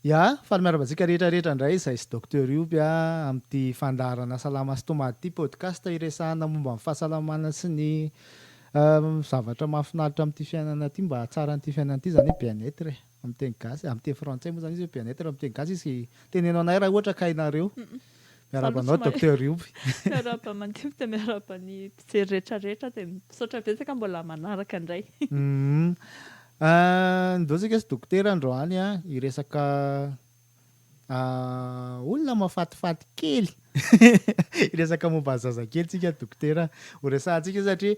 Ya, faly miarahaba antsika rehetra rehetra indray izay sy Docteur Yoby amin'ity fandaharana Salama sy Tomady ity podcast iresahana momba ny fahasalamana sy ny zavatra mahafinaritra amin'ity fiainana ity mba hahatsara an'ity fiainana ity izany hoe bien-être e. Amin'ny teny gasy, amin'ny teny frantsay moa izany izy hoe bien-être, amin'ny teny gasy izy, teneno anay raha ohatra ka hainareo. Miarahaba anao Docteur Yoby. Miarahaba Mandimby dia miarahaba ny mpijery rehetrarehetra dia misaotra betsaka mbola manaraka indray. Ndao isika sy Dokotera androany hiresaka. Ah, olona mafatifaty kely. Hiresaka momba ny zazakely tsika dokotera ho resahantsika satria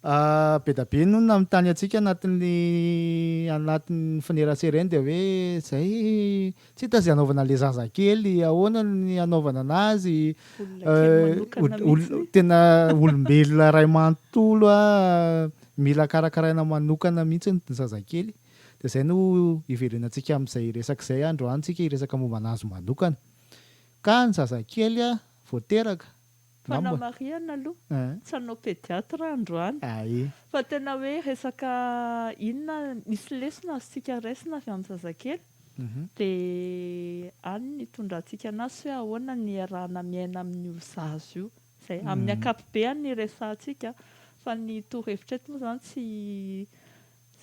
ah, be da be no nanontany antsika anatin'ny anatin'ny finerasereny dia hoe zay tsy hita izay anaovana le zazakely, ahoana ny anaovana anazy, Olona kely eh, manokana ol- ol- mihitsy ny. tena olombelona iray manontolo ah, mila karakaraina manokana mihitsy ny zazakely. Dia izay no hiverenantsika amin'izay resaka izay androany tsika hiresaka momba an'azy manokana. Ka ny zazakely vao teraka. Fa na marihana aloha, tsy hanao pédiatre aho androany. Fa tena hoe resaka inona, misy lesona azontsika raisina avy amin'ny zazakely, dia any no hitondrantsika an'azy sy hoe ahoana no hiarahana miaina amin'io zaza io. Izay amin'ny ankapobeany no hiresahantsika. Fa ny torohevitra eto moa izany tsy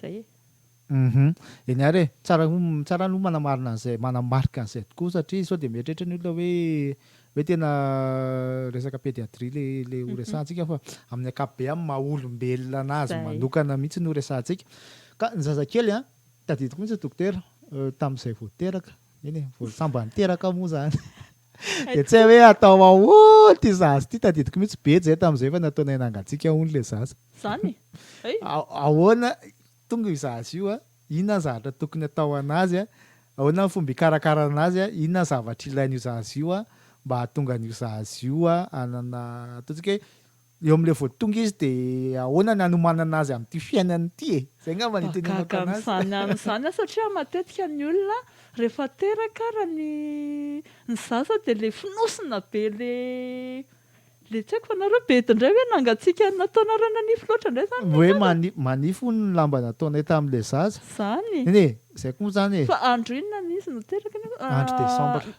Zay e. Uhum. Eny ary e, tsara tsara aloha manamarina an'izay, manamarika an'izay tokoa satria sao dia mieritreritra ny olona hoe hoe tena resaka pédiatrie le le ho resahantsika fa amin'ny ankapobeny amin'ny maha olombelona anazy manokana mihitsy no resahantsika. Ka ny zazakely a, tadidiko mihitsy dokotera tamin'izay vao teraka, eny e, vao sambany teraka moa zany. Dia tsy hay hoe atao ahoana ity zaza ity, tadidiko mihitsy be izay tamin'izay efa nataonay nangatsiaka hono ilay zaza. Izany e! Ahoana tonga io zaza io, inona ny zavatra tokony atao an'azy, ahoana ny fomba hikarakarana an'azy, inona ny zavatra ilain'io zaza io mba hahatonga an'io zaza io hanana, ataontsika hoe, Eo amin'ilay vao tonga izy dia ahoana ny hanomanana azy amin'ity fiainana ity e? Izay angamba no itenenako anazy. Mahagaga an'izany ihany izany an! Satria matetika ny olona rehefa teraka ara ny ny zaza dia ilay fonosina be ilay ilay tsy haiko fa nareo be edy indray hoe nangatsiaka nataonareo nanify loatra indray izany ilay zaza? Hoe mani manify hono ny lamba nataonay tamin'ilay zaza. Izany e! Neny e! Izay koa moa izany e! Fa andro inona ny izy no teraka nefa? Andro desambra.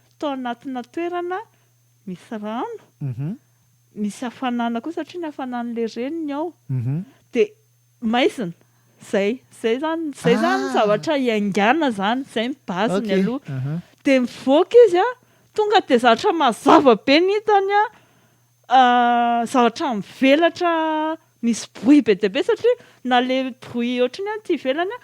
tao anatina toerana misy rano, misy hafanana koa satria ny hafanan'ilay reniny ao, dia maizina. Izay, izay izany, izay izany ny zavatra iaingàna izany, izay ny base-ny aloha. Dia mivoaka izy an, tonga dia zavatra mazava be ny hitany an, zavatra mivelatra misy bruit be dia be satria na le bruit ohatran'ny any aty ivelany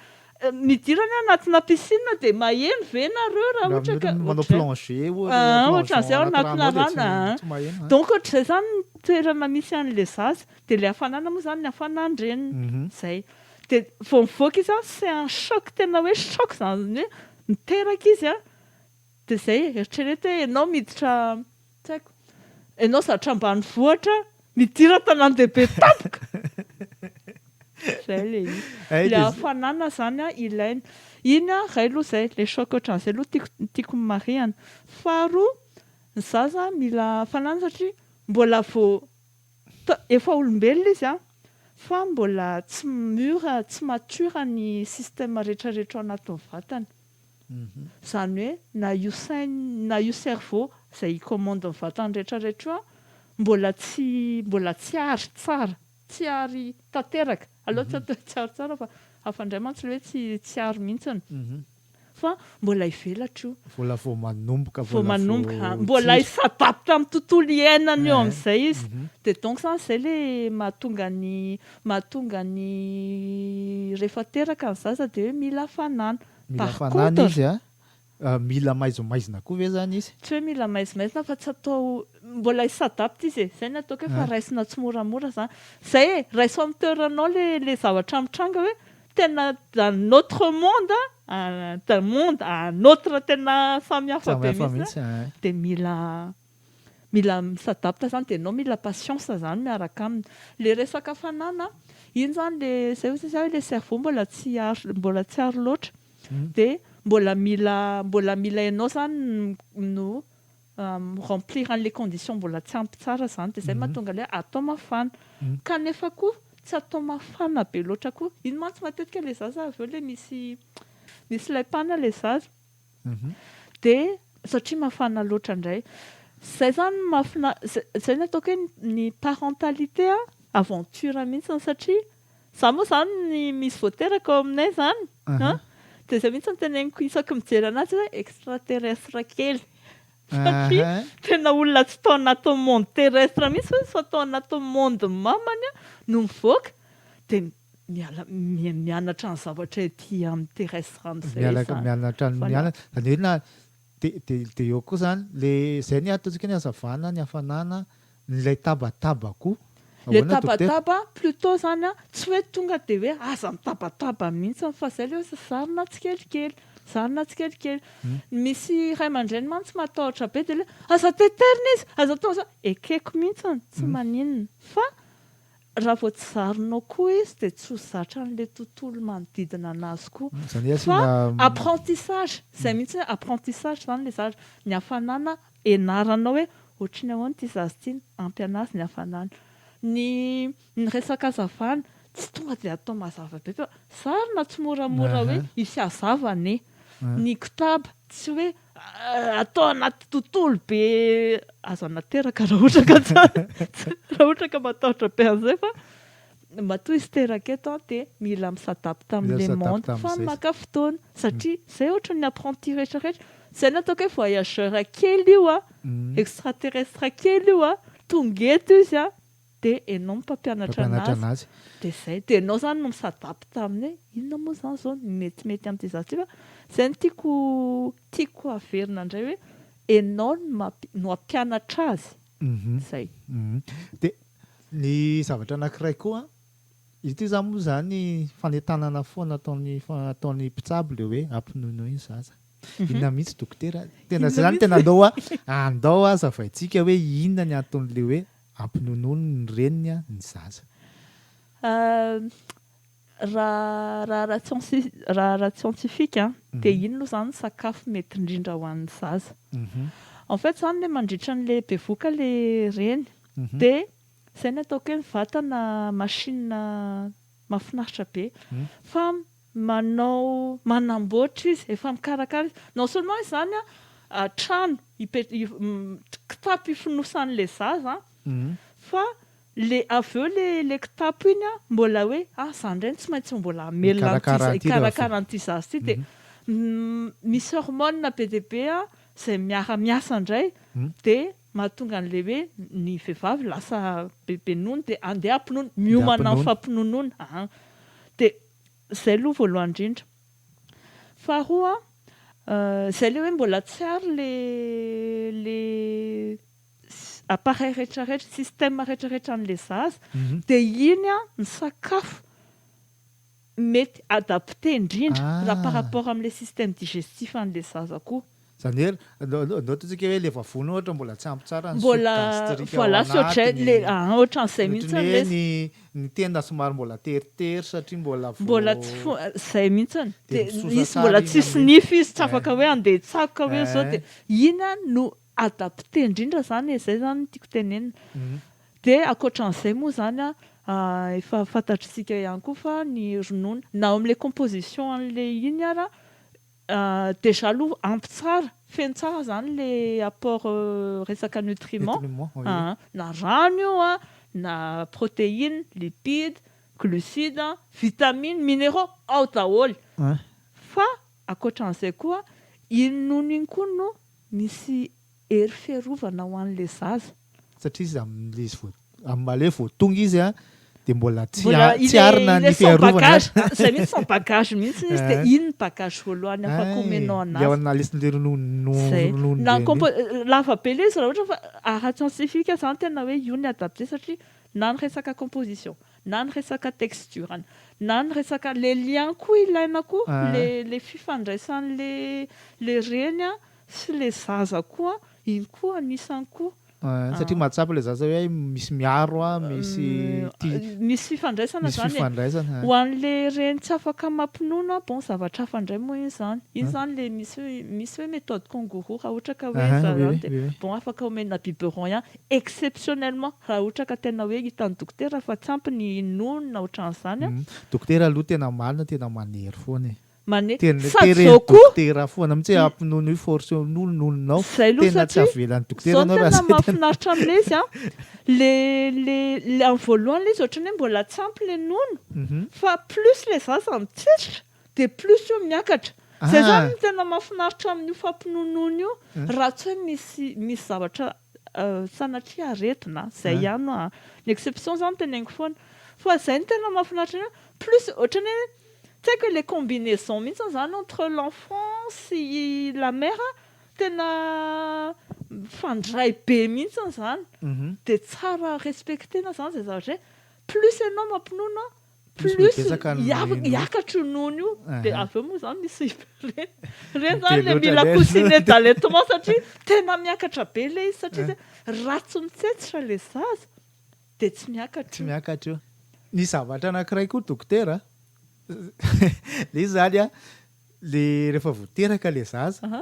midira any anatina piscine dia maheno ve ianareo raha ohatra ka manao plongé ohatran'izay ao anatina rano donc ohatran'izay izany ny toerana misy an'ilay zaza dia ilay hafanana moa izany ny hafanan-dreniny izay dia vao mivoaka izy an c'est un choc tena hoe choc izany hoe miteraka izy an dia izay eritrereto hoe ianao miditra Tsy haiko. Ianao zatra ambanivohitra midira an-tanàn-dehibe tampoka! Izay ilay izy. Ilay hafanana izany ilaina. Iny iray aloha izay, ilay choc ohatran'izay aloha tiako tiako ny marihana. Faharoa, ny zaza mila hafanana satria mbola vao ta- efa olombelona izy an, fa mbola tsy mûr, tsy mature ny système rehetrarehetra ao anatin'ny vatany. Izany hoe na io sainy na io cerveau izay hi-commande ny vatany rehetra rehetra io an, mbola tsy mbola tsy ary tsara, tsy ary tanteraka, aleo tsy atao hoe tsy ary tsara fa hafa indray mantsy ilay hoe tsy tsy ary mihintsiny, fa mbola hivelatra io, Mbola vao manomboka, vao manomboka an, mbola hi-s'adapte amin'ny tontolo iainany eo amin'izay izy, dia donc izany izay ilay mahatonga ny Mahatonga ny rehefa teraka ny zaza dia hoe mila hafanana. Mila hafanana izy a! Mila maizimaizina koa ve izany izy? Tsy hoe mila maizimaizina fa tsy atao, mbola hi s'adapte izy e! Izay no ataoko hoe fa raisina tsimoramora izany. Izay e! Raiso amin'ny toeranao ilay zavatra mitranga hoe tena d'un autre monde a! D'un monde à un autre tena samihafa be mihitsy a! Dia mila. Mila mi s'adapte zany dia enao mila patience zany miaraka aminy. Ilay resaka fanana, iny zany ilay izay hoy sasany hoe ilay cerveau mbola tsy ary mbola tsy ary loatra. Dia mbola mila mbola mila enao zany no mi remplir an'ilay condition mbola tsy ampy tsara zany dia izay mahatonga ilay hoe atao mafana. Kanefa koa tsy atao mafana be loatra koa. Iny mantsy matetika ilay zaza avy eo ilay misy misy laim-pana ilay zaza. dia satria mafana loatra indray izay izany no mahafina- izay izay no ataoko hoe ny parentalité an, aventure mihitsy satria izaho moa izany ny misy vao teraka ao aminay izany an, dia izay mihitsy no teneniko isaky ny mijery an'azy hoe extra terrestre kely satria tena olona tsy tao anatin'ny monde terrestre mihitsy fa tao anatin'ny monde-ny mamany no mivoaka dia miala mianatra ny zavatra ety amin'ny terrestre any zay miala zany mianatra ny mianatra izany hoe na dia dia dia eo koa izany le izay ny ataontsika ny hazavana ny hafanana ilay tabataba koa le tabataba plutot izany an tsy hoe tonga dia hoe aza mitabataba mihintsiny fa izay le hoe zarina tsikelikely zarina tsikelikely misy ray aman-dreny mantsy matahotra be dia le hoe aza teterina izy aza atao izany ekeko mihintsiny tsy maninona fa Raha vao tsy zarinao koa izy dia tsy ho zatra an'ilay tontolo manodidina anazy koa. Izany hoe asiana. Fa apprentissage, izay mihitsy hoe apprentissage izany ilay zaza. Ny hafanana ianaranao hoe ohatry ny ahoana ity zaza ity, ampy anazy ny hafanana. Ny ny resaka hazavana, tsy tonga dia atao mazava be fa zarina tsimoramora hoe hisy hazava anie. Ny kotaba, tsy hoe atao anaty tontolo be aza nateraka raha ohatra ka raha ohatra ka matahotra be an'izay fa matoa izy teraka eto an dia mila misadapta amin'ilay monde fa maka fotoana satria izay ohatra ny apprenti rehetra rehetra izay ny ataoko hoe voyageur kely io an extraterrestre kely io an tonga eto izy an de enao mpampianatra anazy de zay de enao zany no mi s'adapte aminy hoe inona moa zany zao ny metimety amty za ty fa zay no tiako tiako averina ndray hoe enao no hampianatra azy zay de ny zavatra anakiray koa ity zany moa zany fanentanana foana ataony ataony mpitsabo le hoe ampinonoy ny zaza inona mihitsy dokotera tena zay zany tena andao a andao a zavaintsika hoe inona ny antonle hoe Ampinononin'ny reniny ny zaza. Raha raha scientifique dia inona moa izany ny sakafo mety indrindra ho an'ny zaza. En fait izany ilay mandritra an'ilay bevoka ilay reny dia izay ny ataoko hoe ny vatana machine mahafinaritra be fa manao manamboatra izy, efa mikarakara izy, non seulement izany an, trano kitapo ifonosan'ilay zaza an, fa ilay avy eo ilay kitapo iny an, mbola hoe ah izaho indray no tsy maintsy ho mbola hamelona an'ity, hikarakara an'ity zaza ity, dia misy hormones be dia be izay miara miasa indray, dia mahatonga an'ilay hoe ny vehivavy lasa bebe nono dia andeha hampinono, miomana amin'ny fampinonoana an, dia. Izay aloha voalohany indrindra. Faharoa, izay ilay hoe mbola tsy ary ilay appareil rehetra rehetra, système rehetra rehetra an'ilay zaza, dia iny ny sakafo mety adapté indrindra raha par rapport amin'ilay système digestif an'ilay zaza koa. Izany hoe, nôty antsika hoe ilay vavony ohatra mbola tsy ampy tsara ny sous gastrique ao anatiny, ohatran'ny hoe ny ny tenda somary mbola teritery satria mbola vao, mbola tsy fo, izay mihitsy, dia misosa tsara, mbola tsy hisy nify izy, tsy afaka hoe handeha hitsakoka hoe izao, dia iny no adapter indrindra izany e, izay izany no tiako tenenina, dia ankoatran'izay moa izany efa fantatr'isika ihany koa fa ny ronono na ao amin'ilay composition an'ilay iny ara, Déjà aloha ampy tsara, feno tsara zany le apport resaka nutriments, aha, na rano io an, na proteine, lipides, glucides, vitamines, mineraux, ao daholo. Fa ankoatran'izay koa iny nono iny koa no misy Hery fiarovana ho an'ilay zaza. Satria izy amin'ilay izy vao, amin'ilay vao tonga izy an, dia mbola tsy Mbola a- tsy ilay arina ilay ny sans fiarovana. bagage. Ah, izay mihitsy sans bagage mihitsy izy dia iny ny bagage voalohany afaka Ay, omenao ilay an'azy. ao nalesin'ilay ronono no- Zay. ronono Na ny be an'iny. compo- lava be ilay izy raha ohatra fa ara scientifique aza an, tena hoe io ny adapté satria na ny resaka composition, na ny resaka texture-ny, na ny resaka le lien koa ilaina koa, Ah. le le fifandraisan'ilay le reny an. Sy le zaza koa, iny koa anisany koa. Ahh satria mahatsapa le zaza hoe hay misy miaro an, misy ty, Misy fifandraisana misy zany e. fifandraisana an. Ho an'le reny tsy afaka mampinono an, bon zavatra hafa indray moa iny zany. Iny zany le misy hoe, misy hoe méthode kangourou raha ohatra ka hoe Aha, oui, zazany oui, dia oui, oui. bon afaka omena biberon ihany exceptionnellement raha ohatra ka tena hoe hitan'ny dokotera fa tsy ampy ny nonony na ohatran'izany an. Dokotera aloha tena marina tena manery foana e. Tena teren'ny dokotera foana mintsy hoe ampinono io force io nononao tena tsy avelan'ny dokotera anao raha zay tena. Zao no tena mahafinaritra amin'ilay izy an, le le le amin'ny voalohany ilay izy ohatran'ny hoe mbola tsy ampy ilay nono fa plus ilay zaza mitsetrika dia plus io miakatra. Zay zany no tena mahafinaritra amin'io fampinonoana io raha tsy hoe misy misy zavatra Sanatria aretina izay ihany no ny exception zany teneniko foana fa izay no tena mahafinaritra an'ahy plus ohatran'ny hoe tsy haiko ilay combinaison mihitsy zany entre l'enfant sy la mère tena mifandray be mihitsy zany dia tsara respecter-na zany izay zavatra hoe plus ianao mampinono plus hiakatro nono io dia avy eo moa izany misy ireny ireny izany ilay mila coussinet d'allaitement satria tena miakatra be ilay izy satria izay raha tsy mitsetsitra ilay zaza dia tsy miakatra tsy miakatra io ny zavatra anankiray koa dokotera ilay izy izany an Le rehefa vao teraka le zaza Aha.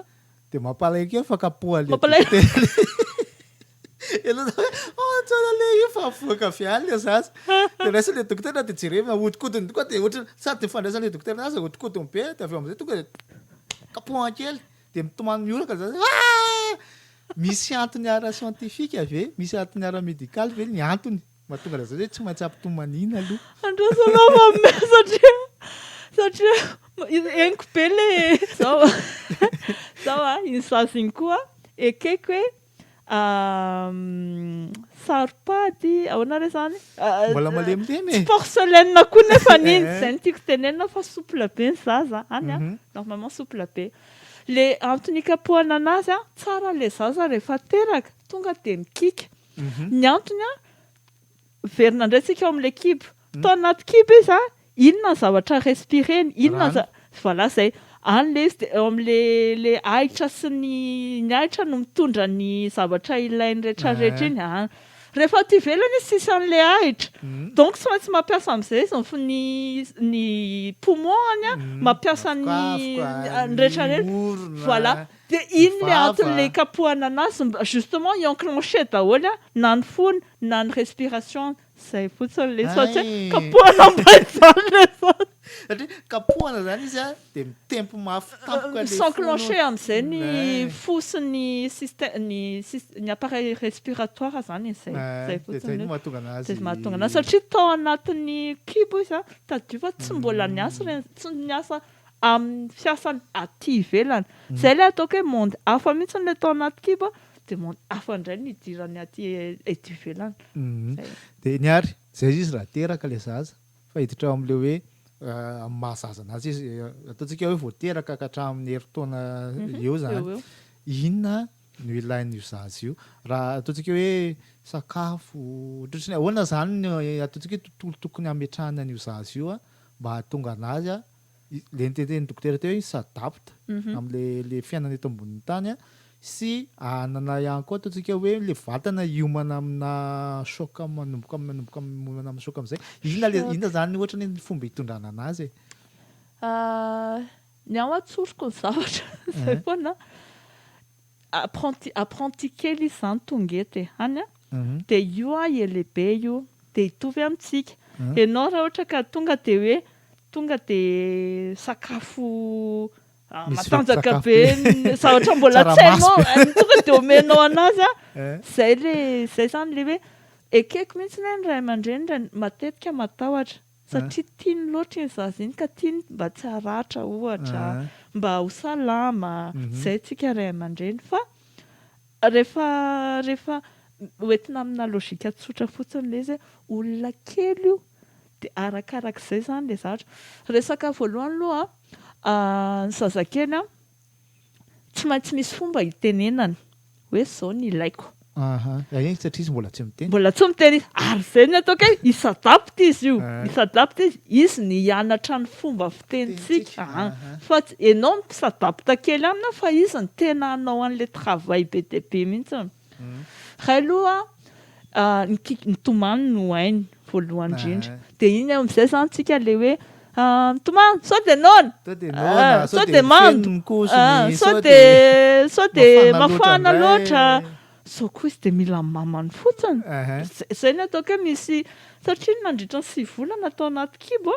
de mampalahelo kely fa kapoha le Mampalahelo. dokotera. Ianao zany hoe, oh tsara le io fa avoaka avy any le zaza. De raisiny le dokotera de jerevina ahodikodiny tokoa de ohatry ny sady ifandraisan'ny le dokotera azy ahodikodiny be de avy eo am'zay tonga de kapohany kely de mitomany mioraka le zaza hoe, ah! Misy antony ara-siantifika ve? Misy antony ara-medikaly ve ny antony? Mahatonga an'izany hoe tsy maintsy ampitomaniana aloha. Andrasana aho fa me satria satria henoko be le zao zao a iny sazy iny koa ekeko hoe saro-pady ahoana re zany Mbola malemilemy e. Tsy porcelaine koa nefa iny izay no tiako tenenina fa souple be ny zaza any a normalement souple be le antony ikapohana anazy a tsara le zaza rehefa teraka tonga dia mikiaka Ny antony an, miverina indray tsika ao amin'ilay kibo. Tao anaty kibo izy an, inona ny zavatra respireny? Inona ny zavatra, voilà izay. Any ilay izy dia eo amin'ilay ahitra sy ny, ny ahitra no mitondra ny zavatra ilainy rehetra rehetra iny an. Rehefa aty ivelany izy tsisy an'ilay ahitra, donc tsy maintsy mampiasa amin'izay izy ny fo, ny poumon-ny an, mampiasa ny, ny rehetra rehetra, voilà. De inn le antony le ikapohana anazy mba justement hi enclencher daholo a, na ny fony na ny respiration zay fotsiny le izy fa tsy hoe kapohana mbainjany le zany. Satria kapohana zany izy a de mitempo mafy tampoka le fo. S'enclencher amzay ny fo sy ny système ny sys ny appareil respiratoire zany e zay zay fotsiny. De zay no mahatonga anazy. De mahatonga anazy satria tao anatin'ny kibo izy a tadidio fa tsy mbola niasa le tsy niasa amin'ny fiasany aty ivelany. Izay ilay ataoko hoe monde hafa mihitsy ilay tao anaty kibo dia monde hafa indray no idirany aty eto ivelany. Izay. Dia ny ary, izay izy izy raha teraka ilay zaza, fa hiditra ao amin'ilay hoe amin'ny maha zaza anazy izy, ataontsika hoe vao teraka ka hatramin'ny herintaona eo izany, inona no ilain'io zaza io? Raha ataontsika hoe sakafo, ohatrotry ny ahoana izany no ataontsika hoe tontolo tokony hametrahana an'io zaza io mba hahatonga anazy le notentenin'ny dokotera teo hoe s'adapte amle le fiainana eto ambonin'ny tany sy hanana ihany koa ataontsika hoe le vatana hiomana amina choc manomboka am- manomboka am- miomana amina choc amizay inona le Choc. inona zany ohatra ny ny fomba hitondrana anazy e Ah, ny ahy atsoriko ny zavatra Eh. zay foana Apprenti apprenti kely izy zany tonga eto e any a de io a e lehibe io de hitovy amintsika enao raha ohatra ka tonga de hoe tonga de sakafo matanjaka be za ohatra mbola tsy hainao tonga de omenao anazy a zay le zay zany le hoe ekeko mihitsy ny ahy ny ray aman-dreny matetika matahotra Satria tiany loatra iny zaza iny ka tiany mba tsy haratra ohatra, mba ho salama, izay tsika ray aman-dreny fa rehefa rehefa hoentina amina logika tsotra fotsiny ilay izy hoe olona kely io dia arakarak'izay izany ilay zavatra. Resaka voalohany aloha ny zazakely an! Tsy maintsy misy fomba hitenenana hoe izao ny ilaiko. Aha, eny satria izy mbola tsy miteny. Mbola tsy miteny izy. Ary izay ny ataoko hoe hi-s'adapte izy io. Hi-s'adapte izy. Izy ny hianatra ny fomba fitenintsika. Fa tsy, ianao mi-s'adapte kely aminy fa izy ny tena hanao an'ilay travail be dia be mihitsy. Hay aloha ny kick mitomany no hainy voalohany indrindra dia iny amin'izay zany tsika le hoe mitomany sao dia noana sao dia mando sao dia sao dia mafana loatra sao koa izy dia mila mamany fotsiny izay no ataoko hoe misy satria nandritra ny sivy volana tao anaty kibo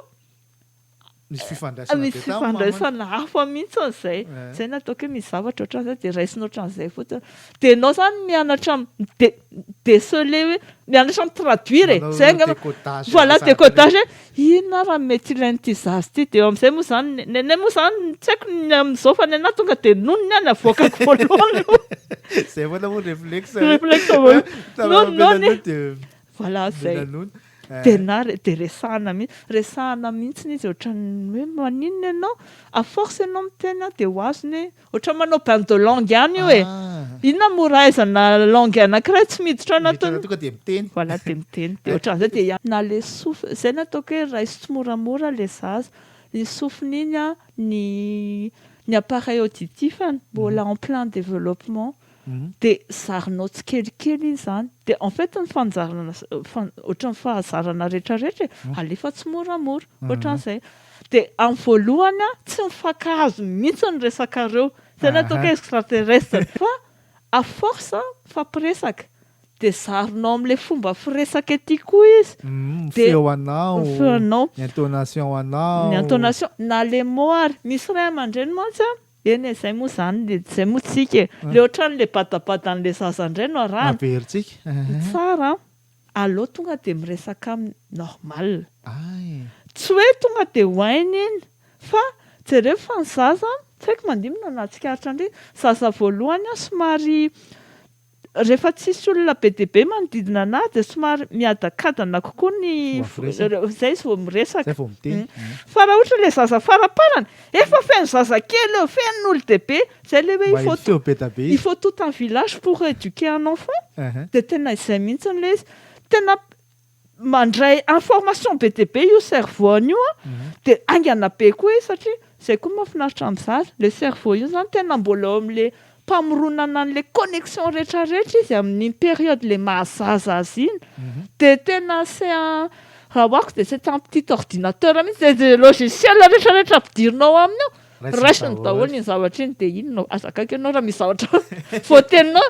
Misy fifandraisana be tamin'ny mamany. Misy fifandraisana hafa mihitsy amin'izay. Izay no ataoko hoe misy zavatra ohatran'izay dia raisina ohatran'izay fotsiny. Dia ianao izany mianatra mi-de- mi-deceler hoe mianatra mi-traduire e. Izay angamba. Manao décodage. Voilà, décodage hoe inona ary ny mety ilain'ity zaza ity. Dia eo amin'izay moa izany, ny anay moa izany tsy haiko ny amin'izao fa ny anà tonga dia nono ny ahy no avoakako voalohany. Izay foana moa ny réflexe. Réflexe voalohany. Nono, nono e. Dia. Voilà, izay. Dia nanono. Tena dia resahana mihitsy, resahana mihitsy izy ohatran'ny hoe maninona ianao, à force ianao miteny an dia ho azony hoe, ohatran'ny manao bain de langue ihany io e, inona moa raha ahaizana langue anankiray tsy miditra ao anatin'ny. Miditra tonga dia miteny. Voilà dia miteny, dia ohatran'izay dia hiany. Na ilay sofina, izay no ataoko hoe raiso tsimoramora ilay zaza, iny sofina iny an, ny ny appareil auditif-ny mbola en plein développement, de zarinao tsikelikely izy zany de en fait ny fanzarana ohatran'ny fahazarana retraretra e alefa tsimoramora ohatran'izay de amin'ny voalohany an tsy mifankahazo mihitsy ny resakareo zay ny ataoko hoe extraterrestre fa à force mifampiresaka de zarinao amin'ilay fomba firesaka ety koa izy ny feo anao ny feonao ny intonation anao ny intonation na le mot ary misy ray aman-dreny mantsy an Eny e, zay moa zany e, zay moa tsika e, le otrany le badabadan'le zaza ndray no arahana, averitsika ny tsara an, aleo tonga de miresaka aminy normal, tsy hoe tonga de ho hainy iny, fa jereo fa ny zaza an, tsy haiko mandinona na tsikaritra ndry, zaza voalohany an somary Rehefa tsisy olona be dia be manodidina anah dia somary miadakadana kokoa ny foko, zay izy vao miresaka, fa raha ohatra ilay zaza faraparany efa feno zazakely eo, feno olon-dehibe, zay ilay hoe il faut il faut tout un village pour eduquer un enfant, dia tena izay mihitsy ilay izy, tena mandray information be dia be io cerveau-ny io an, dia haingana be koa izy satria izay koa mahafinaritra ny zaza, ilay cerveau io izany tena mbola eo amin'ilay mpamoronana an'ilay connexion rehetra rehetra izy amin'iny période ilay maha zaza azy iny, dia tena c'est un, raha ho ako dia c'est un petit ordinateur mihintsy, dia izay logiciel rehetra rehetra ampidirina ao aminy ao, raisiny daholo iny zavatra iny, dia iny no, aza akaiky ianao raha misy zavatra voateninao,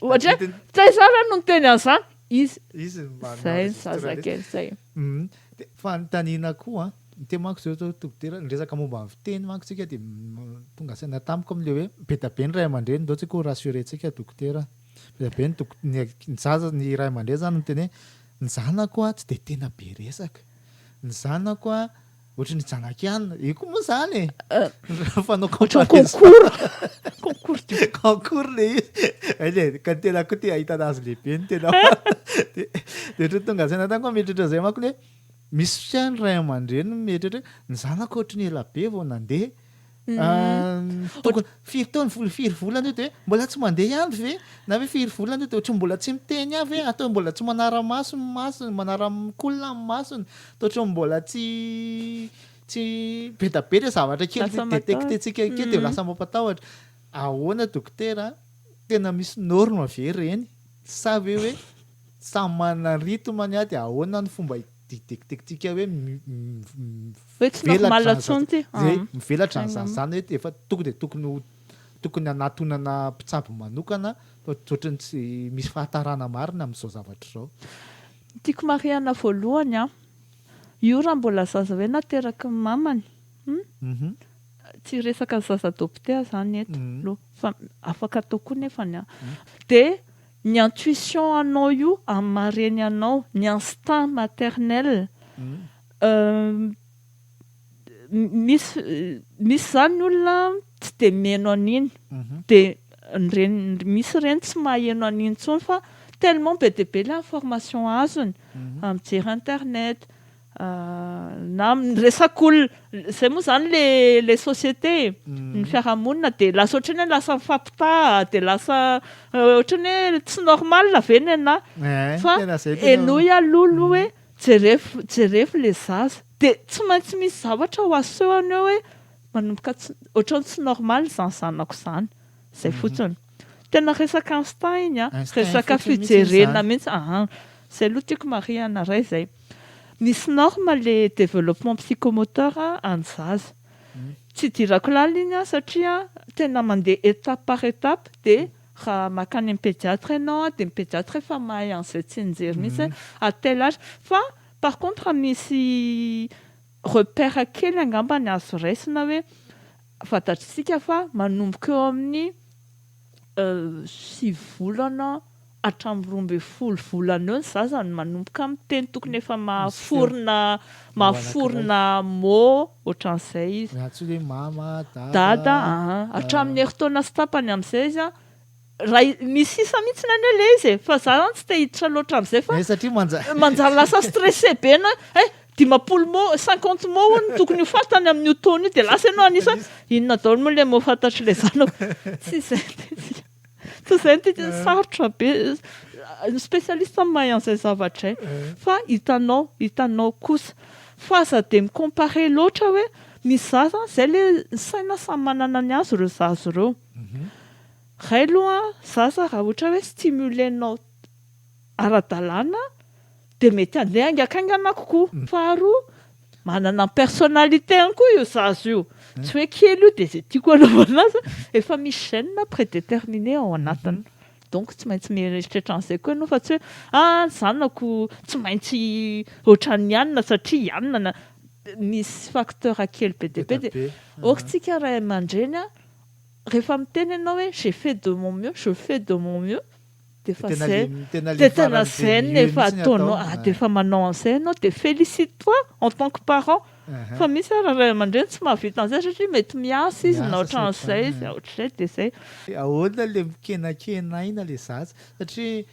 ohatra hoe, taiza aho raha no niteny an'izany? Izy Izy no manao izay ny registre list. zazakely zay. Hum, dia fanontaniana koa an, dia manko izao izao dokotera, ny resaka momba ny fiteny manko tsika dia m- tonga saina tamiko amin'ilay hoe be dia be ny ray aman-dreny izao tsika ho rassurer-tsika dokotera an. Be dia be ny dok- ny ak- ny zaza ny ray aman-dreny izany miteny hoe ny zanako an tsy dia tena be resaka, ny zanako an Ohatry ny janakiana. Io koa moa zany e. Raha fanao comparaison. Concours. Concours le izy. Aile ka ny tena koa te ahitana azy lehibe ny tena. Dia ohatry ny tonga saina tany koa mieritreritra izay manko le misy fotoana ny ray aman-dreny mieritreritra hoe ny zanako ohatry ny ela be vao nandeha Tokony firy taona firy firy volana io dia mbola tsy mandeha ihany ve na hoe firy volana io dia ohatry ny mbola tsy miteny ihany ve atao mbola tsy manara-maso ny masony manara-mikolona ny masony dia ohatry ny mbola tsy tsy bedabeda zavatra kely Lasa matahotra. détecter-tsika kely dia Mhm. lasa mampatahotra ahoana dokotera tena misy norme ve ireny sa ve hoe samy manana ny rythme-ny dia ahoana ny fomba Didekitentsika hoe mivelatra an'izany zany hoe efa tonga dia tokony tokony hanatonana mpitsabo manokana fa ohatran'ny tsy misy fahatarana marina amin'izao zavatra izao. Ny tiako marihana voalohany an, io raha mbola zaza hoe nateraky ny mamany hum, tsy resaka zaza doptea zany eto aloha fa afaka atao koa nefany an, dia Ny intuition anao io amin'ny maha reny anao, ny instinct maternel, misy misy izany ny olona tsy dia mihaino an'iny, dia ny reny, misy reny tsy maheno an'iny intsony fa tellement be dia be ilay information azony amin'ny jery internet. na amin'ny resak'olona, izay moa izany le le société e, ny fiarahamonina dia lasa ohatran'ny hoe lasa mifampitaha, dia lasa ohatran'ny hoe tsy normal ve ny anah? Fa henoy aloha aloha hoe jerefo jerefo le zaza, dia tsy maintsy misy zavatra ho asehony eo hoe manomboka tsy ohatran'ny tsy normal izany zanako izany, izay fotsiny. Tena resaka Einstein a, resaka fijerena mihitsy aa. Zay aloha tiako marihana ray zay. Misy norme le développement psychomoteur an'ny zaza. Tsy idirako lalina iny an satria tena mandeha étape par étape dia raha makany amin'ny pédiatre ianao an dia ny pédiatre efa mahay an'izay tsinjery mihitsy hoe à tel âge. Fa par contre misy repère kely angambany azo raisina hoe Fantatr'isika fa manomboka eo amin'ny sivy volana hatramin'ny roa ambin'ny folo volana eo ny zaza no manomboka miteny, tokony efa mahaforona mahaforona mots ohatran'izay izy. Raha tsy hoe mama, dada. Dada, aa. Hatramin'ny herintaona sy tapany amin'izay izy an. Raha misy sisa mihitsy any hoe le izy e, fa za zany tsy te hiditra loatra amzay fa manjary lasa stressé be enao hoe eh dimampolo mots, cinquante mots hono no tokony ho fantany amin'io taona io dia lasa enao hanisa hoe inona daholo moa le mots fantatr'le zanako tsy izay no tiantsika tsy izay no tiantsika, sarotra be ny spécialiste mahay an'izay zavatra izay fa hitanao, hitanao kosa fa aza dia mi-comparer loatra hoe misy za zany izay le ny saina samy manana ny azy ireo zaza ireo. Ray loha zaza raha ohatra hoe stimulenao ara-dalàna dia mety handeha haingankaingana kokoa. Faharoa, manana ny personnalitény koa io zaza io. Tsy hoe kely io dia izay tiako hanaovana azy an! Efa misy gènes prédéterminés ao anatiny. Donc tsy maintsy mieritreritra an'izay koa ianao fa tsy hoe ah ny zanako tsy maintsy ohatran'ny ianona satria ianona na. Misy facteurs kely be dia be dia aokitsika ray aman-dreny an! rehefa miteny ianao hoe j'ai fait de mon mieux, je fais de mon mieux dia efa izay, dia tena izay no efa ataonao, dia efa manao an'izay ianao dia félicite toi en tant que parent fa misy ary ray aman-dreny tsy mahavita an'izay satria mety miasa izy na ohatran'izay izy, ohatr'izay dia izay. Ahoana ilay mikenankena aina ilay zaza? Satria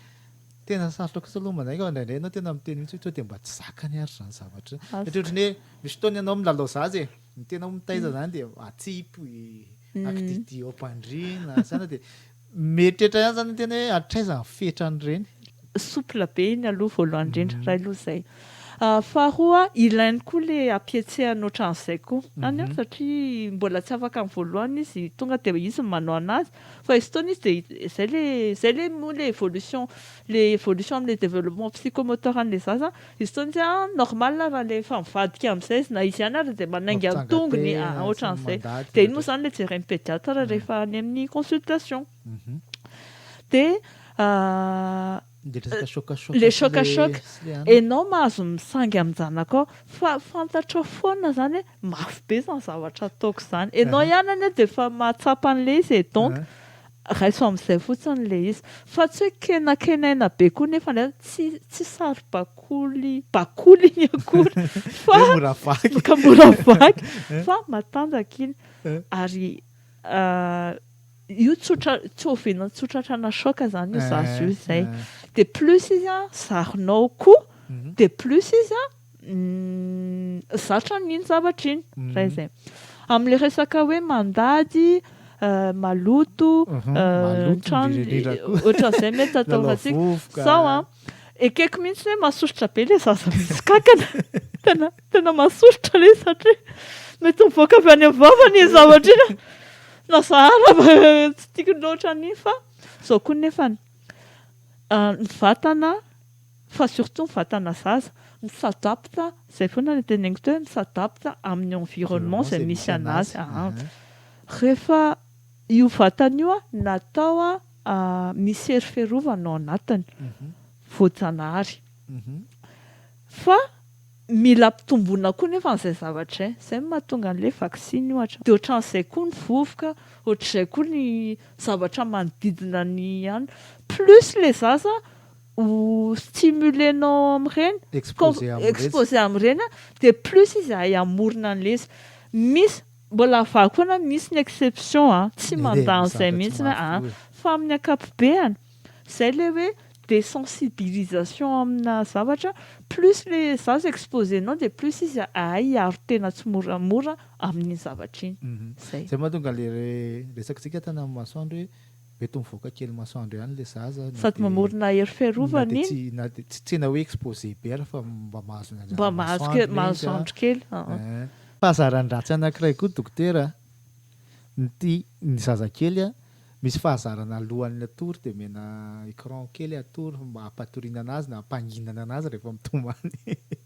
tena sarotra kosa aloha manaiky fa indraindray ianao tena miteny mihitsy hoe tonga dia mba tsy zakany ary izany zavatra izany, satria ohatran'ny hoe misy fotoana ianao milalao zaza e, Ny tena mitaiza zany dia atsipy akididy ao am-pandriana zany dia mieritreritra ihany zany ny tena hoe hatraiza ny fetran'ireny. Souple be iny aloha voalohany indrindra, iray aloha izay. Faharoa, ilainy koa le hampihetsehana ohatran'izay koa any an, satria mbola tsy afaka ny voalohany izy, tonga dia izy no manao anazy, fa izy fotoana izy dia izay le, izay le moa le evolution, le evolution am'le développement psychomoteur an'le zaza, Izy tony tsy an normal raha le efa mivadika amizay izy na izy ihany ary dia manainga ny tongony an otran'izay dia iny moa izany le jeren'ny pediatra rehefa any amin'ny consultation dia le choc à choc enao mahazo misangy amin'ny zanakao fa fantatrao foana izany hoe mafy be izany zavatra ataoko izany enao ihany anie dia efa mahatsapa an'ilay izy e donc Raiso amin'izay fotsiny ilay izy. Fa tsy hoe kenakenaina be koa nefa indray tsy tsy saribakoly bakoly iny akory fa Hoe mora vaky. ka mora vaky fa matanjaka iny. Ary io tsotra tsy oviana tsotratrana choc izany io zaza io izay. Dia plus izy an, zarinao koa dia plus izy an, Zatra amin'iny zavatra iny raha izay. Amin'ilay resaka hoe mandady, maloto, ohatran'izay mety ataontsika. Sao an, ekeko mihitsy hoe masosotra be ilay zaza misy kankana. Tena, tena masosotra ilay izy satria mety mivoaka avy any amin'ny vavany iny zavatra iny. Na za ara fa tsy tiako loatra an'iny fa izao koa nefany, ny vatana fa surtout ny vatana zaza mi s'adapte, zay foana ilay teneniko teo hoe mi s'adapte amin'ny environnement izay misy anazy an! rehefa io vatana io natao misy hery fiarovana ao anatiny voajanahary fa mila ampitomboina koa nefa an'izay zavatra izay, izay no mahatonga an'ilay vaksiny ohatra, dia ohatran'izay koa ny vovoka, ohatr'izay koa ny zavatra manodidina ny anona, plus ilay zaza ho stimulenao amin'ireny, exposer amin'ireny dia plus izahay hamorona an'ilay izy. Misy, mbola havaha koa na misy ny exception an, tsy mandà an'izay mihitsy an, fa amin'ny ankapobeany, izay ilay hoe desensibilisation amina zavatra, plus ilay zaza exposer-nao dia plus izy hahay hiaro tena tsimoramora amin'iny zavatra iny. Izay. Izay no mahatonga ilay resakantsika tany amin'ny masoandro hoe. Mety ho mivoaka kely masoandro ihany ilay zaza na dia na dia tsy na dia tsy tena hoe exposé be ary fa mba mahazo ny anjaran'ny masoandro ilay izy an! Fahazaran-dratsy anankiray koa dokotera a! ny ty ny zazakely a! misy fahazarana alohan'ny hatory dia omena écran kely hatory mba hampatoriana anazy na hampanginana anazy rehefa mitomany.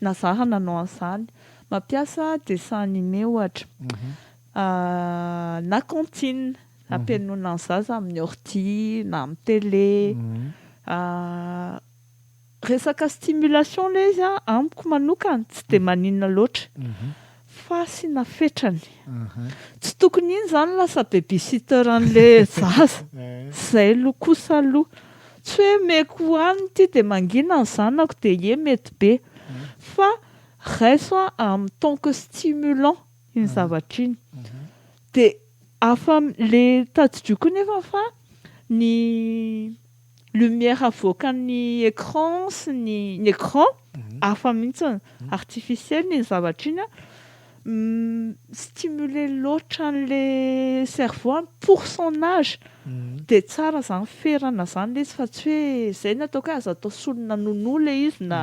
Na za raha nanao an'izany. Mampiasa dessin animé ohatra. Na cantine ampihainoana ny zaza amin'ny ordi na amin'ny télé. Resaka stimulation ilay izy an, amiko manokana tsy dia maninona loatra. Fasina fetrany. Tsy tokony iny izany lasa babysitter an'ilay zaza. Izay aloha kosa aloha. Tsy hoe meko ho any ity dia mangina ny zanako dia ie mety be. Fa raiso a en tant que stimulant iny zavatra iny. Dia afa-, ilay tadidio koa nefa fa ny. lumière avoakan'ny écran sy ny ny écran hafa mihitsy artificiel iny zavatra iny an, mi-stimuler loatra an'le cerveau an, pour son age dia tsara zany ferana izany le izy fa tsy hoe izay no ataoko hoe aza atao solona nounou le izy na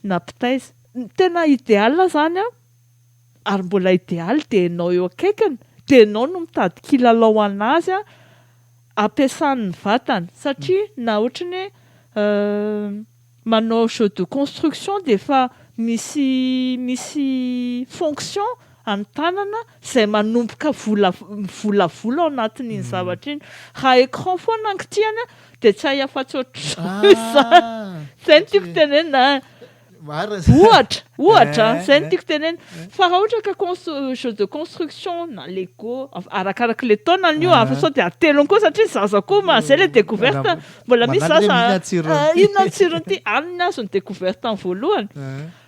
na mpitaiza. Ny tena idéal zany an, ary mbola idéal dia ianao eo akaikiny dia ianao no mitady kilalao ho an'azy an, ampiasany ny vatany satria na ohatran'ny hoe manao jeu de construction dia efa misy misy fonction an'ny tanana izay manomboka vola mivolavola ao anatin'iny zavatra iny. Raha écran foana angitiany dia tsy hay afa-tsy ohatr'izao izany. Izay no tiako tenenina. Ohatra, ohatra, eh. zay no tiako tenena. Eh. Fa raha ohatra ka chose de construction na Lego, arakaraka le taona an'io, eh. fa sao dia atelony koa satria zaza koa ma, zay le découverte, mbola misy zaza inona tsirony ty, alina azo ny découverte ny voalohany.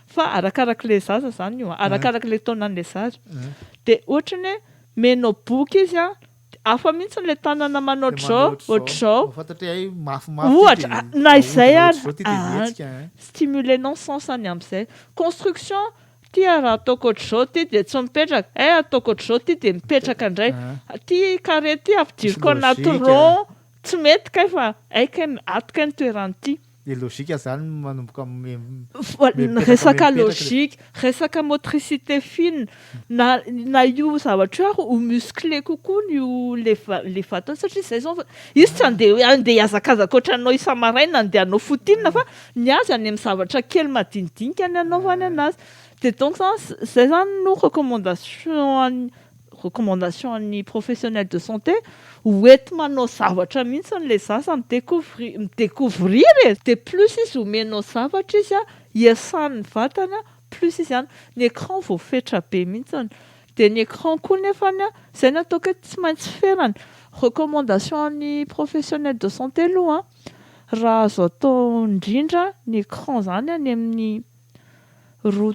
Fa arakaraka le zaza zany io, arakaraka le taona an'le zaza. Dia ohatrany hoe menao boky izy a, Hafa mihitsy ilay tanana manao ohatr'izao, ohatr'izao. Ohatra, na izay ary, aa, stimuler non sens any amin'izay. Construction, ity ary raha ataoko ohatr'izao ity dia tsy mipetraka, eh, ataoko ohatr'izao ity dia mipetraka indray. Ity carré ity ampidiriko anaty rond, tsy mety kay fa hay kay, ato kay ny toeran'ity. Dia logika zany no manomboka mipetraka Resaka logika, resaka motricité fine, na na io zavatra io ary ho musclé kokoa ny ho le va- le vatana satria izay zao fa izy tsy andeha andeha hiazakazaka ohatranao isa-maraina andeha hanao foot in fa ny azy any amin'ny zavatra kely madinidinika ny anaovany anazy dia donc zany zay zany no recommandation an'ny recommandation an'ny professionnel de santé hoety manao zavatra mihitsy ilay zaza mi-decouvrir, mi-decouvrir e! dia plus izy omenao zavatra izy an, hiasan'ny vatany an, plus izy an, ny écran voafetra be mihitsy an, dia ny écran koa nefany an, izay no ataoko hoe tsy maintsy ferana, recommandation an'ny professionnel de santé aloha an, raha azo atao indrindra ny écran izany any amin'ny roa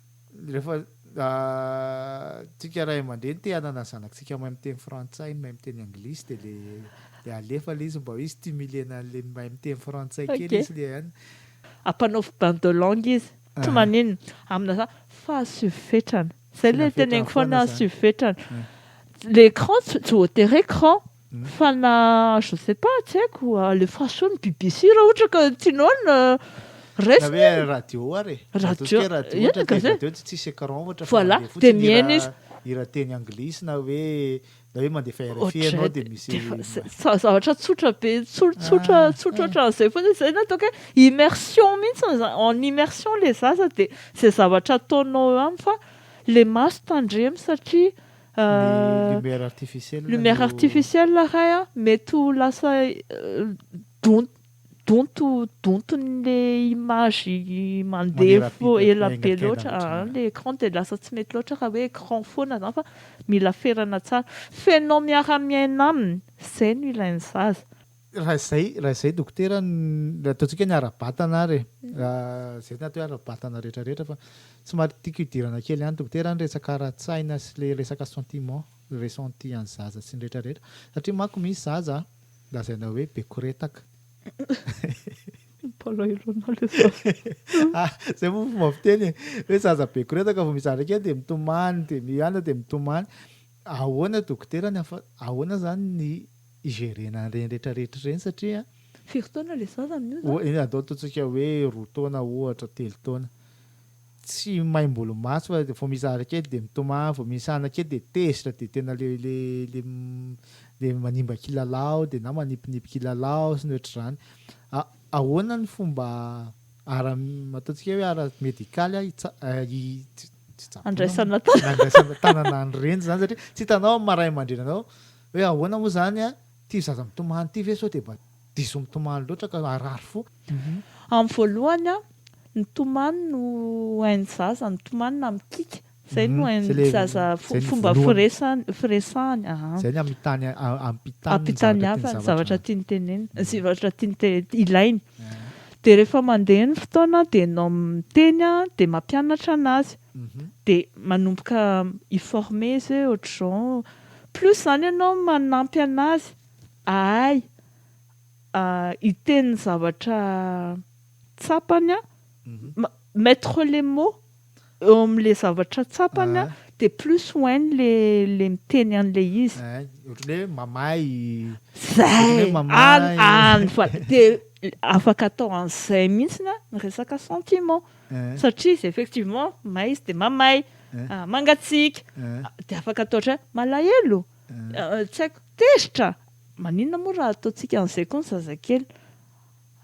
Rehefa tsika ray aman-dreny te hanana ny zanakitsika mahay miteny frantsay, mahay miteny anglisy dia le le alefa le izy mba hoe stimuler na le mahay miteny frantsay kely izy le an. Ampanaovy bain de langue izy. Tsy maninona. Amina za fa asio fetrany. Zay le teneniko foana asio fetrany. L'écran tsy voatery écran. Fana je sais pas tsy haiko alefaso ny bbc raha ohatra ka tianao ny resiny. Na hoe radio ary e. Radio. Ataontsika hoe radio ohatra dia gazety. radio dia tsisy écran ohatra fa Voilà, mandeha dia fotsiny mihaino hira izy. hira teny anglisy na hoe na hoe mandefa RFI Ohatray ianao dia misy dia efa- zay- za- zavatra tsotra be tso- tsotra Ah, tsotra ah. ohatran'izay foana izay no ataoko hoe immersion mihitsy no za- en immersion ilay zaza dia izay zavatra ataonao eo aminy fa ilay maso tandremo satria Lumière artificielle. Lumière artificielle iray an, mety ho lasa donto donto donton'le image mandeha fo ela be loatra an, le écran dia lasa tsy mety loatra raha hoe écran foana zany fa mila ferana tsara. Fenao miara-miaina aminy, zay no ilain'ny zaza. Raha izay, raha izay dokotera, ny- ataontsika ny ara-batana ary e. Raha izay no atao hoe ara-batana rehetra rehetra fa somary tiako hidirana kely any dokotera ny resaka ara-tsaina sy le resaka sentiment, ressenti an'ny zaza sy ny rehetra rehetra. Satria manko misy zaza lazaina hoe be koretaka. Mpalairona le zaza. Ah, zay moa fomba fiteny e. Hoe zaza be koretaka vao mizara kely dia mitomany, dia mianona dia mitomany. Ahoana dokotera ny afa- ahoana zany ny Hijerena an'ireny rehetrarehetra ireny satria. Firy taona ilay zaza amin'io izany? Ohatra, atao ataontsika hoe roa taona ohatra, telo taona. Tsy maim-bolo maso fa vao misy zavatra kely dia mitomany, vao misy hanina kely dia tezitra, dia tena ilay ilay ilay manimba kilalao dia na manipinipy kilalao sy ny ohatr'izany. A Ahoana ny fomba ara ataontsika hoe ara-medikaly a hitsa hi tsy hitsaboana moa, Handraisana tanana. handraisana tanana an'ireny izany satria tsy hitanao amin'ny maha ray aman-dreninao Hoe ahoana moa izany an? Ity zaza mitomany ity ve sao dia mba diso mitomany loatra ka harary fo? Amin'ny voalohany, ny tomany no hain'ny zaza, ny tomany na mikiky, izay no hain'ny zaza, fomba firesahany, aa. Izay ny hamitany, hampitany ny zavatra tiany zavatra. Hampitaniavany ny zavatra tiany tenenina, ny zavatra tiany ilainy. Dia rehefa mandeha ny fotoana dia ianao miteny dia mampianatra an'azy. Dia manomboka hi-former izy hoe ohatr'izao, Plus izany ianao manampy an'azy ahay hiteny ny zavatra tsapany an, mettre les mots eo amin'ilay zavatra tsapany an, dia plus ho hainy ilay miteny an'ilay izy. Ohatran'ny hoe mamahy. Izay! Any, any fa dia afaka atao an'izay mihitsy ny resaka sentiment. Satria izy effectivement may izy dia mamay, mangatsiaka, dia afaka atao ohatran, malahelo, tsy haiko, tezitra, maninona moa raha ataontsika an'izay koa ny zazakely?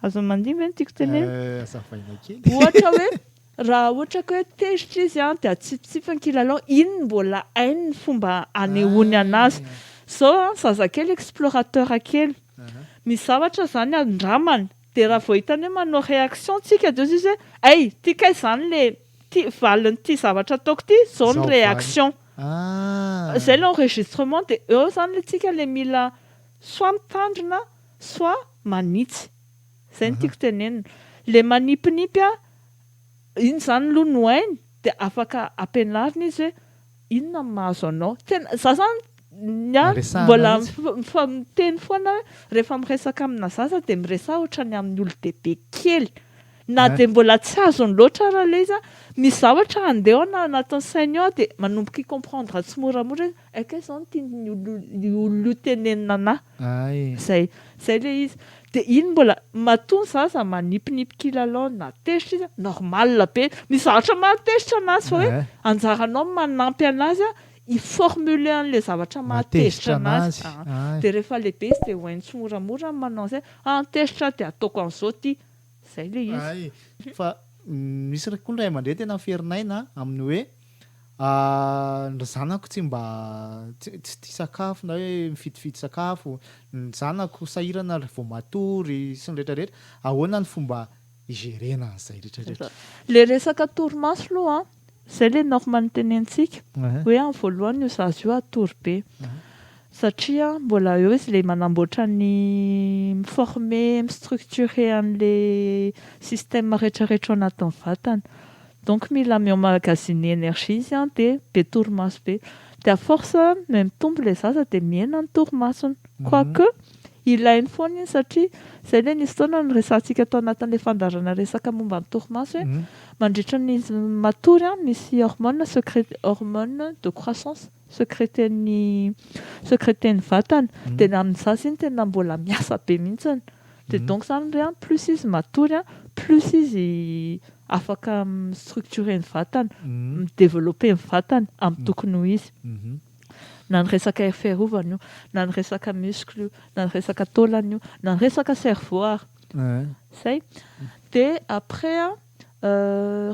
Azony mandimby ve ny tiako tenenina? Azavaina kely. Ohatra hoe raha ohatra ka hoe tezitra izy an, dia atsipitsipy ny kilalao, iny no mbola hainy ny fomba hanehoany an'azy. Izao an, zazakely explorateur kely, misy zavatra izany andramany, Dia raha vao hitany hoe manao réaction tsika dia hozy izy hoe hay ty kay zany le ty valin'ity zavatra ataoko ty zao ny réaction ah! zay le enregistrement dia eo zany le tsika le mila soit mitandrina soit manitsy zay no tiako tenenina le manipinipy a iny zany aloha no hainy dia afaka ampianarina izy hoe Inona no mahazo anao? Tena za zany ny ahy Resahana mbola mihitsy. mif- mifa- miteny foana hoe rehefa miresaka amina zaza dia miresaha ohatran'ny amin'ny olon-dehibe kely. Na An. dia mbola tsy azony loatra ara le izy an, misy zavatra handeha ao na anatin'ny sainy ao dia manomboka hi-comprendre tsimoramora izy, ay kay izao no tian'io olona io tenenina anah. Ay. Zay. Zay le izy. Dia iny mbola matoa ny zaza manipinipy kilalao na tezitra izy, normal be. Misy zavatra mahatezitra anazy fa hoe anjaranao manampy anazy hi-formuler an'ilay zavatra mahatezitra anazy. Dia rehefa lehibe izy dia ho hainy tsimoramora ny manao an'izay, ah tezitra aho dia ataoko an'izao ity. Izay ilay izy. Hay, fa misy koa ny ray aman-dreny tena miferin'aina amin'ny hoe. Ny zanako tsy mba tsy tia sakafo na hoe mifidifidy sakafo, ny zanako sahirana raha vao matory sy ny rehetra rehetra, ahoana ny fomba higerena an'izay rehetra rehetra? Ilay resaka torimaso aloha an, izay ilay normal nitenentsika hoe amin'ny voalohany io zaza io hatory be. satria mbola eo izy le manamboatra ny mi-former, mi-structurer an'le système retraretra ao anatin'ny vatany, donc mila mi-emmagasiner énergie izy an dia be torimaso be, dia à force mais mitombo le zaza dia mihena ny torimasony, quoi que ilainy foana iny satria zay le nisy fotoana niresahantsika tao anatin'le fandaharana resaka momba ny torimaso hoe mandritra ny izy matory an misy hormone secret hormone de croissance, Secreten'ny secreten'ny vatana. Dia ny amin'izany izy iny tena mbola miasa be mihitsy. Dia donc izany hoe plus izy matory, plus izy afaka mi-structurer ny vatana, mi-developper ny vatana amin'ny tokony ho izy. Na ny resaka hery fiarovana io, na ny resaka muscle io, na ny resaka taolana io, na ny resaka cerveau ary. Izay. Dia après an.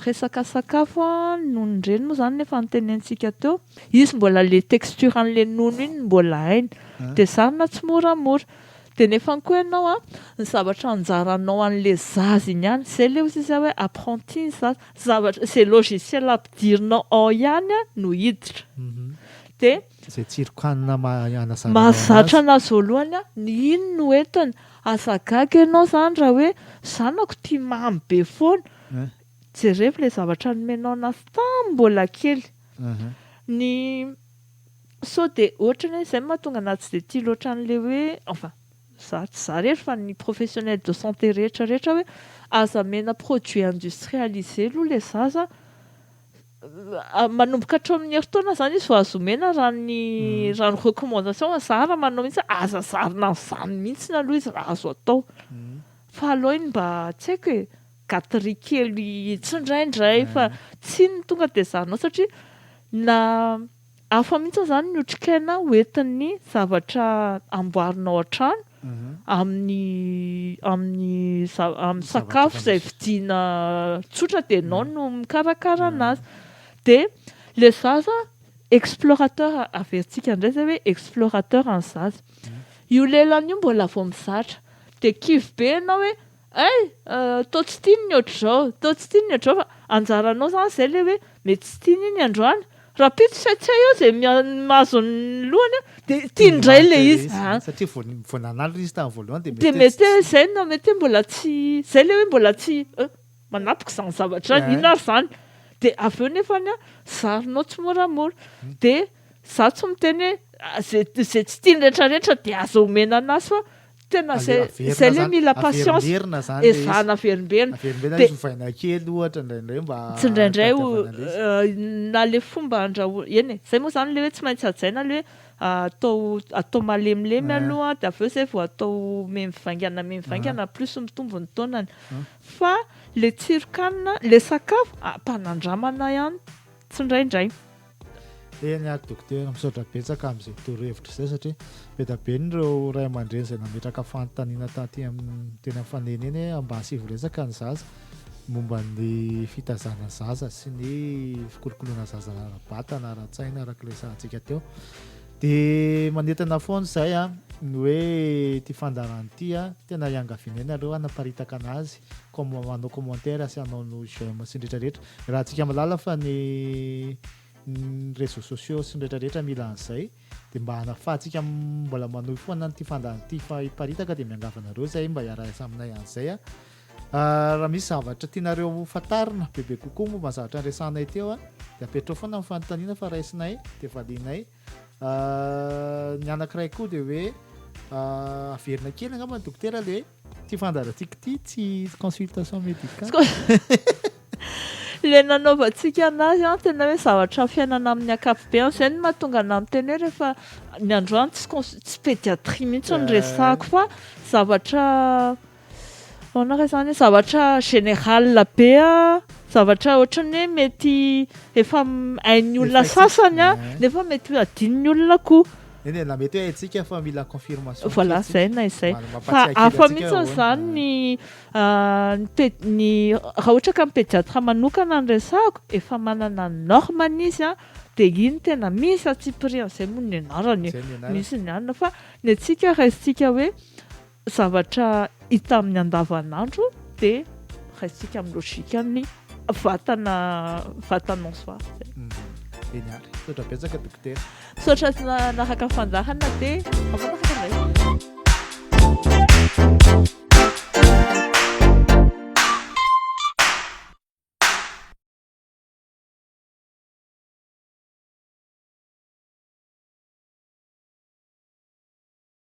Resaka sakafo no nireny moa izany ilay fanonteniantsika teo. Izy mbola ilay texture an'ilay nono iny no mbola hainy. Dia zarina tsimoramora. Dia nefany koa ianao an, ny zavatra anjaranao an'ilay zaza iny ihany, izay ilay hozy izy hoe apprenti ny zaza. Izay zavatra, izay logiciel ampidirinao ao ihany no hiditra. Dia. Izay tsiron-kanina maha-anazarana azy. Mahazatra anazy voalohany aho, ny iny no entiny. Aza gaga ianao izany raha hoe zanako tia mamy be foana. Jerevo ilay zavatra nomenao anazy tamin'ny mbola kely. Ny sao dia ohatrany hoe izay no mahatonga anazy tsy dia tia loatra an'ilay hoe, enfin, izaho tsy izaho irery fa ny professionnel de santé rehetra rehetra hoe aza omena produit industrialisé aloha ilay zaza. manomboka hatreo amin'ny herintaona izany izy vao azo omena raha ny raha ny recommandation azo zahara manao mihitsy hoe aza zarina amin'izany mihitsy aloha izy raha azo atao fa aleo iny mba tsy haiko e gaterie kely tsindraindray fa tsy ny tonga dia zahanao satria na Hafa mihitsy izany ny otrikaina hoentin'ny zavatra amboarinao an-trano amin'ny amin'ny amin'ny sakafo izay vidiana tsotra dia ianao no mikarakara anazy. Dia ilay zaza explorateur, averintsika indray izay hoe explorateur ny zaza. Io lelany io mbola vao mizatra dia kivy be ianao hoe. Hay! toa tsy tiany ny ohatr'izao, toa tsy tiany ny ohatr'izao fa anjaranao izany izay ilay hoe mety tsy tiany iny androany. Rahampitso tsy hay tsy hay eo izay mahazo ny lohany dia tiany indray ilay izy a! Satria vao vao nanala ilay izy tamin'ny voalohany dia mety hoe. Dia mety hoe izay na mety hoe mbola tsy, izay ilay hoe mbola tsy eh, manapaka izany zavatra izany, inona ary izany? Dia avy eo nefany an, zarinao tsimoramora. Dia izaho tsy miteny hoe izay izay tsy tiany rehetra rehetra dia aza omena an'azy fa. Tena izay, izay le mila patience. Averimberina zany le izy. Ezahana averimberina. Averimberina izy hovaina kely ohatra indraindray mba hitadiavana le izy. Na le fomba andrahoina, eny e, izay moa zany le hoe tsy maintsy hajaina le hoe atao, atao malemilemy aloha dia avy eo izay vao atao memivaingana memivaingana plus mitombo ny taonany. Fa le tsiron-kanina, le sakafo, ampanandramana ihany tsindraindray. Eny ary Dokotera, misaotra betsaka amin'izay torohevitra izay satria be dia be ny ireo ray aman-dreny izay nametraka fanontaniana taty amin'ny teny amin'ny faneny eny hoe mba asivo resaka ny zaza momba ny fitazana zaza sy ny fikolokoloana zaza ara-batana, ara-tsaina araka ilay sahantsika teo. Dia manentana foana izay a, ny hoe ity fandaharana ity a, tena iangaviana ianareo hanaparitaka anazy comme manao commentaire sy hanao no j'aime sy ny rehetra rehetra raha tsika malala fa ny réseaux sociaux sy ny rehetra rehetra mila an'izay dia mba hanafahantsika mbola manohy foana an'ity fandany ity fa hiparitaka dia miangavy anareo izay mba hiarahiasa aminay an'izay a ah, raha misy zavatra tianareo ho fantarina bebe kokoa momba ny zavatra niresahanay teo a dia apetrao foana ny fanontaniana fa raisinay dia valianay Ny anankiray koa dia hoe averina kely angamba ny dokotera le ty fandarantsika ty tsy consultation médicale le nanaovantsika anazy an tena hoe zavatra fiainana amin'ny akapobeany zay no mahatonga anah miteny hoe rehefa ny androany tsy cons- tsy pédiatrie mihitsy no resahako fa zavatra Ahoana re izany? Zavatra général be zavatra ohatran'ny hoe mety efa hain'ny olona sasany nefa mety hadinon'ny olona koa. Eny e, na mety hoe haintsika fa mila confirmation kely. Voilà, izay na izay. Fa hafa mihitsy izany ny ny raha ohatra ka ny pédiatre manokana no resahako, efa manana ny norme-ny izy an, dia iny tena misy atsipiriany izay moa ny anarany e, misy ny anona fa ny antsika raisintsika hoe zavatra hita amin'ny andavanandro dia raisintsika amin'ny logikan'ny vatana vatana en soi zay. Eny ary. Misaotra betsaka Dokotera. Misaotra nanaraka fandaharana dia mifanaraka indray.